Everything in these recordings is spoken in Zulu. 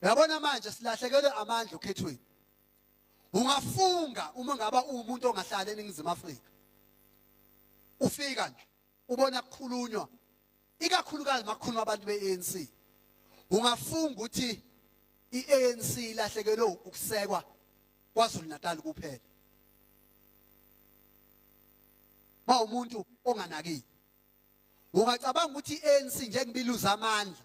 Yabona manje silahlekelwe amandla okhethweni. Ungafunga uma ngaba umuntu ongahlala eningizimu Afrika. Ufika nje ubona kukhulunywa ikakhulukazi makukhuluma abantu beANC. Ungafunga ukuthi iANC ilahlekelwe ukusekwa kwaZulu Natal kuphela. Ba umuntu onganakile. Ungacabanga ukuthi iANC njengoba iluza amandla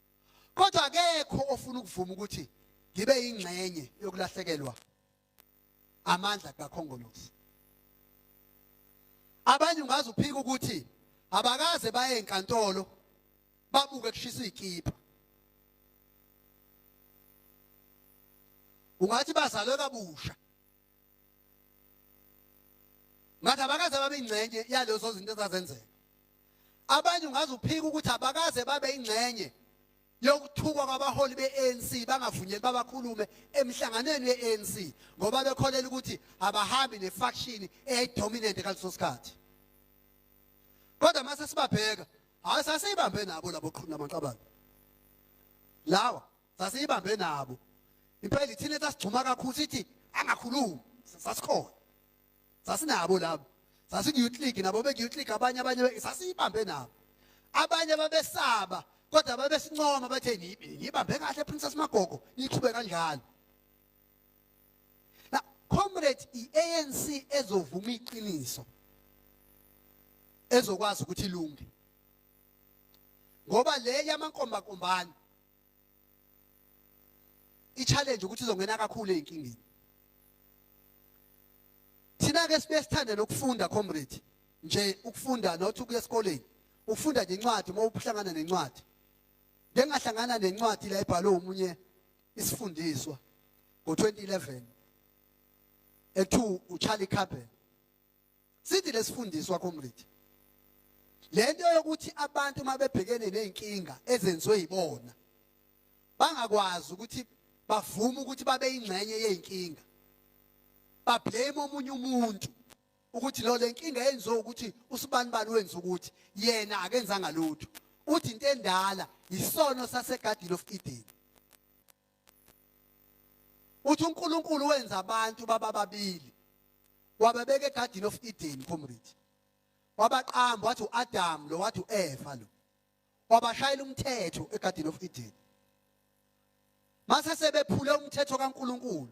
kodwa akekho ofuna ukuvuma ukuthi ngibe ingxenye yokulahlekelwa amandla kakhongolose abanye ungaze uphike ukuthi abakaze baye enkantolo babuke kushisa ikipa ungathi bazalwe kabusha ngathi abakaze babe ingxenye yalezo zinto ezazenzeka abanye ungaze uphike ukuthi abakaze babe ingxenye yokuthukwa kwabaholi be-ANC bangavunyeli babakhulume emhlanganweni we-ANC ngoba bekholela ukuthi abahambi nefaction eyayidominant ngaleso sikhathi kodwa mase sibabheka hayi sasiyibambe nabo labo qhulu namaqabane lawa sasiyibambe nabo impela ithina sasigcuma kakhulu sithi angakhulumi sasikhona sasinabo labo sasiku-youth league nabo beku-youth league abanye abanye sasiyibambe nabo abanye babesaba kodwa babesincoma bathe ngibambe kahle princess magogo niqhube kanjalo na comrade i-anc ezovuma iqiniso ezokwazi ukuthi ilunge ngoba le yamankombakombane i-challenge ukuthi uzongena kakhulu ezinkingeni thina ke sibe sithanda nokufunda comrade nje ukufunda not ukuya esikoleni ufunda nje incwadi uma uhlangana nencwadi bengahlangana nencwadi la ibhalwe umunye isifundiswa ngo-2011 ethu uCharlie Cabell sithi lesifundiswa comrade lento yokuthi abantu mabebhekene nezinkinga ezenziwe yibona bangakwazi ukuthi bavume ukuthi babe ingxenye yezinkinga bablame omunye umuntu ukuthi lo lenkinga yenziwe ukuthi usibani bani wenza ukuthi yena akenzanga lutho uthi into endala yisono sasegadini of Eden uthi uNkulunkulu wenza abantu baba babili wababeka egarden of Eden comrade wabaqamba wathi uAdam lo wathi uEva lo wabashayela umthetho egarden of Eden mase sebephule umthetho kaNkulunkulu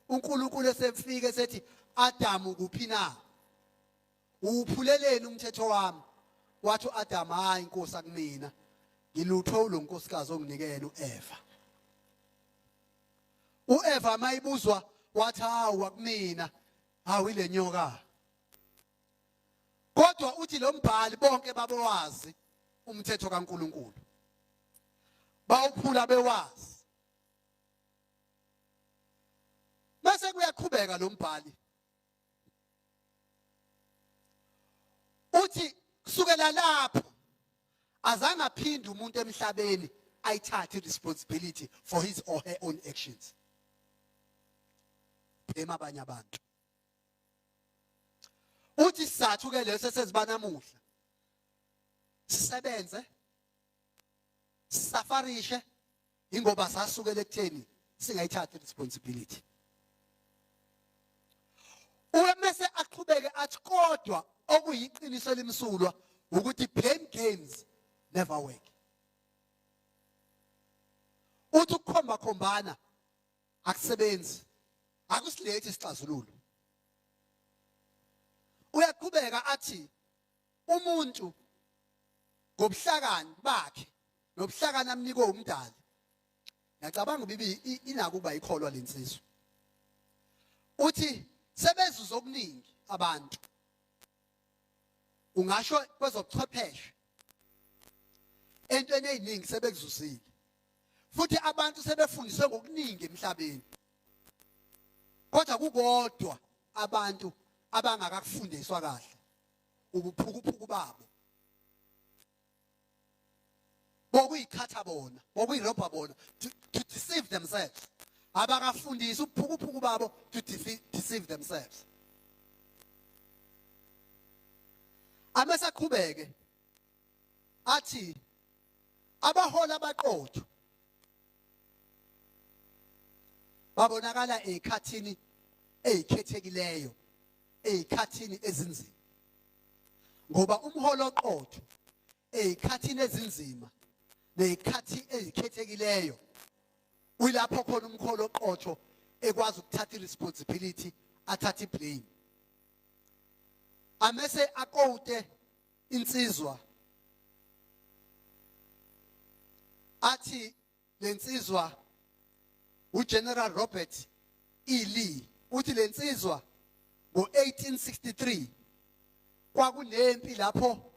uNkulunkulu esefike sethi Adam kuphi na uwuphuleleni umthetho wami wathi uAdam hayi inkosi akumina ngilutho lo nkosikazi onginikele uEva uEva mayibuzwa wathi hawu akumina hawu ile nyoka kodwa uthi lo mbhali bonke babewazi umthetho kaNkuluNkulu bawuphula bewazi bese kuyaqhubeka lo mbhali uthi kusukela lapho azange aphinde umuntu emhlabeni ayithathe responsibility for his or her own actions bhema abanye abantu uthi sizathu ke leso sesibanamuhla sisebenze sisafarishe ingoba sasukela ekutheni singayithathi responsibility umese aqhubeke athi kodwa okuyiqiniso elimsulwa ukuthi blame games never work uthi ukukhomba khombana akusebenzi akusilethi isixazululo uyaqhubeka athi umuntu ngobuhlakani bakhe nobuhlakani amnikwe umdali ngiyacabanga ubibi inakuba ikholwa lensizwa uthi sebezuza okuningi abantu ungasho kwezobuchwepheshe entweni eziningi sebekuzuzile futhi abantu sebefundiswe ngokuningi emhlabeni kodwa kukodwa abantu abangakakufundiswa kahle ubuphukuphuku babo bokuyikhatha bona bokuyirobha bona to, to deceive themselves abakafundisi ubuphukuphuku babo to deceive themselves amesaqhubeke athi abahola abaqotho babonakala ezikhathini ezikhethekileyo ezikhathini ezinzima ngoba umholo oqotho ezikhathini ezinzima nezikhathi ezikhethekileyo uyilapho khona umkholo oqotho ekwazi ukuthatha iresponsibility athathe iblame amese aqote insizwa athi lensizwa uGeneral Robert E. Lee uthi lensizwa ngo-1863 kwakunempi lapho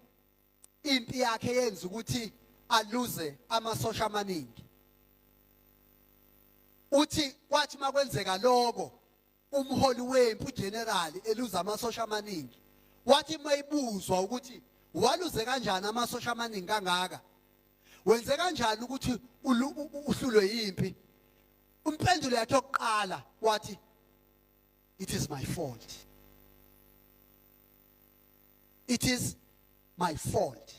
impi yakhe yenza ukuthi aluze amasosha amaningi uthi kwathi makwenzeka lokho umholi wempi ugenerali eluza amasosha amaningi wathi mayibuzwa ukuthi waluze kanjani amasosha amaningi kangaka wenze kanjani ukuthi uhlulwe yimpi umpendulo yakhe yokuqala wathi it is my fault it is my fault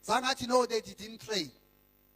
zangathi no they didn't train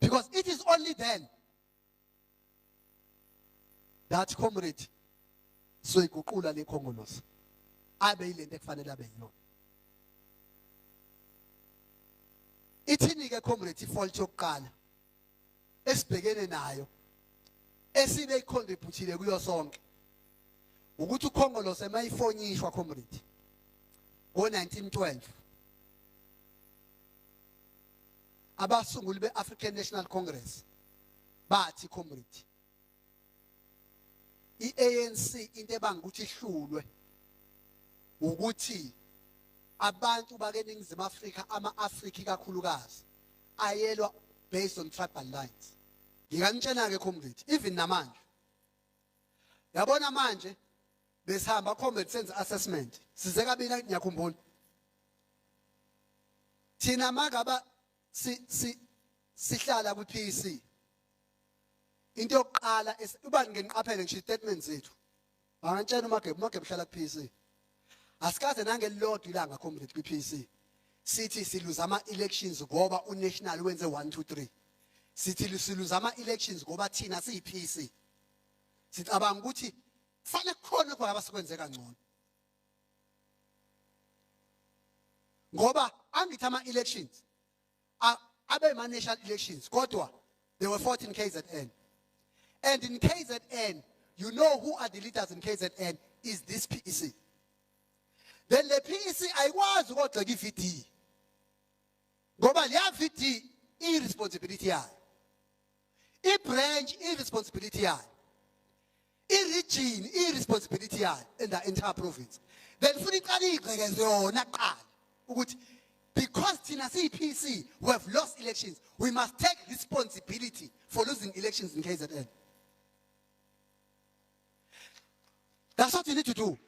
Because it is only then that comrade soyiguqula le khongolosi abe yilento ekufanele abe yiyona ithini ke comrade ifault yokuqala esibhekene nayo esine ikhonde ibhuthile kuyo sonke ukuthi ukhongolose mayifonyishwa comrade ngo-1912 abasunguli be-african national congress bathi comrade iANC into ebanga ukuthi ihlulwe ukuthi abantu bakeningizimu Afrika ama-Afrika ikakhulukazi ayelwa based on tribal lines ngikanitshena-ke comrade even namanje yabona manje besihamba comrade senze assessment size kabina ngiyakhumbula thina magaba si si sihlala kwi-PC into yokuqala uba ngeniqaphele ngisho istatement zethu bangantshela umagebu umagebu uhlala ku-PC asikaze nangelilodwa ilanga comrade kwi-PC sithi siluza ama-elections ngoba unational wenze 1 2 3 sithi siluza ama-elections ngoba thina siyi-PC sicabanga ukuthi kufanele kukhona khona abasikwenze kangcono ngoba angithi ama-elections abe ma national elections kodwa there were 14 KZN and in KZN you know who are the leaders in KZN is this PEC then le PEC ayikwazi ukogxeka iVD ngoba leya VD i responsibility yayo ibranch iresponsibility yayo iregion iresponsibility yayo in the entire province then futhi iqale igqekeze yona kuqala ukuthi because thina siyi-PC we have lost elections we must take responsibility for losing elections in KZN That's what you need to do.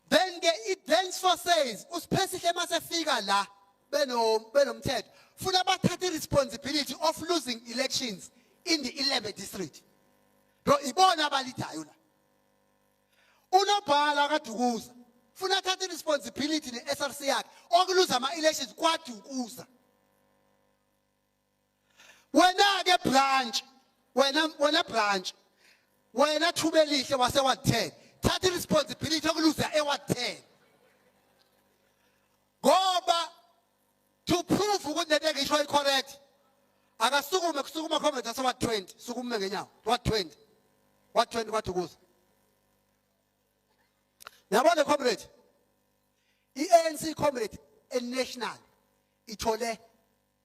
Then ke i-dance for says usiphesihle masefika la beno benomthetho funa bathathe i-responsibility of losing elections in the 11 district. Lo ibona abalidayo la. Unobhala kaDukuza funa athathe i-responsibility ne-SRC yakhe okuluza ama-elections kwaDukuza. wena ke branch wena wena branch wena thuba elihle wase wa 10 thatha responsibility yokuluza ewa 10 ngoba to prove ukuthi lento engisho icorrect akasukume kusukuma comment ase wa 20 sukume ngenyawo wa 20 wa 20 kwathi kuza yabona comrade i-ANC comrade enational ithole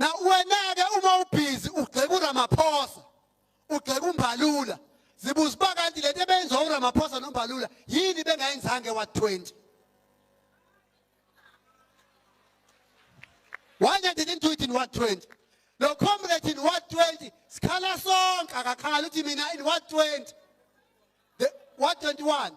na wena-ke uma ubhizi ugxeka uramaphosa ugxeka umbalula zibuza uba kanti le nto ebeyenziwa uramaphosa nombalula yini bengayenzange wa-20 why they didn't do it in 120 lo comrade in 120 sikhala sonke akakhali uthi mina in 120 the 121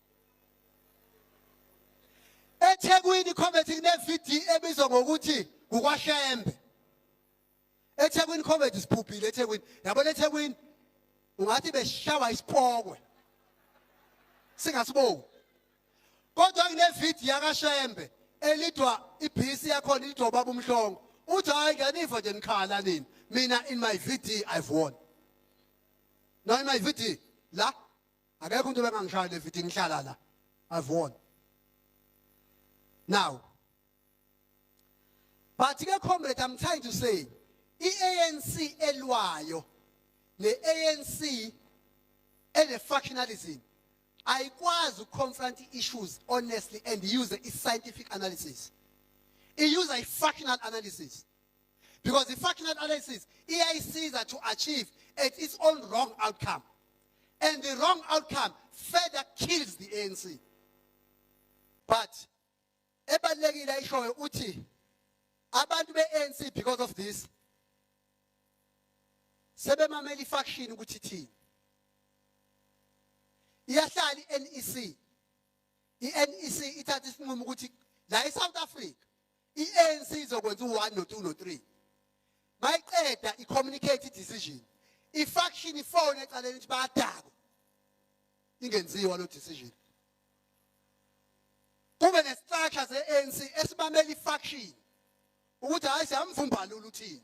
eThekwini comedy kunevideo ebizwa ngokuthi kukwashembe eThekwini comedy sibhubhile eThekwini yabona eThekwini ungathi beshawa isipokwe singasibongi kodwa kunevideo yakashembe elidwa ibhisi yakhona ilidwa ubaba umhlongo uthi hayi ngiyaniva nje nikhala nini mina in my vd i've won no in my vd la akekho umuntu bengangishaya le video ngihlala la i've won now but ke comrade i'm trying to say iANC elwayo neANC ene factionalism ayikwazi ukuconfront issues honestly and use i scientific analysis i use i factional analysis because i-functional analysis iyayisiza to achieve at its own wrong outcome and the wrong outcome further kills the anc but ebalulekile ayishoyo uthi abantu be-anc because of this sebemamela ifaction ukuthi ithini iyahlala i-NEC i-NEC ithatha isinqumo ukuthi la eSouth Africa i-ANC izokwenza u-1 no-2 no-3 mayiqeda i-communicate i-decision i-faction ifone ecaleni ukuthi bayadakwa ingenziwa lo decision kube ne-structure ze-ANC esibamela i-faction ukuthi hayi siyamva umbalula uthini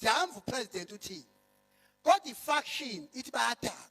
siyamva upresident uthini kodwa i-faction ithi bayadakwa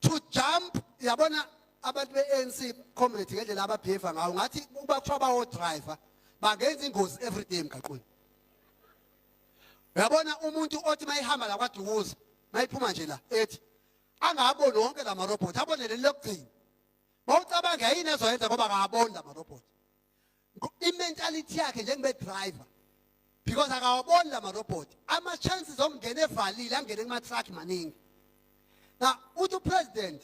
to jump yabona abantu be-ANC comrade ngendlela ababheva ngawo ngathi uba kuthiwa bawo-driver bangenza ingozi every day emgaqweni uyabona umuntu othi uma ihamba la kwadukuza uma iphuma nje la ethi angaboni wonke la marobhothi abone leli lokugcina mawucabanga yini ezoyenza ngoba akaboni la marobhothi imentality yakhe njengebe driver because akawaboni lama robot ama chances omngena evalile angene kuma truck maningi na uthi president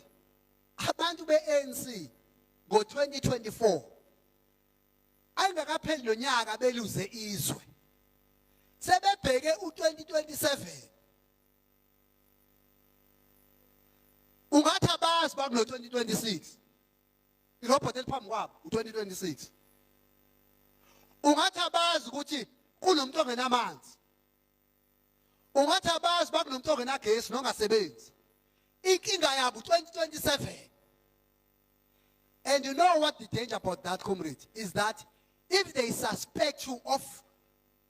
abantu be ANC ngo 2024 ayingakapheli nonyaka beluze izwe sebebheke u 2027 ungathi abazi bakulo 2026 irobot eliphambi kwabo u2026 ungathi abazi ukuthi kunomuntu ongenamanzi ungathi abazi bakunomuntu ongenagesi nongasebenzi inkinga yabo 2027 and you know what the danger about that comrade is that if they suspect you of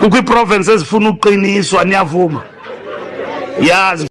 kukho iprovince ezifuna uqiniswa niyavuma yazi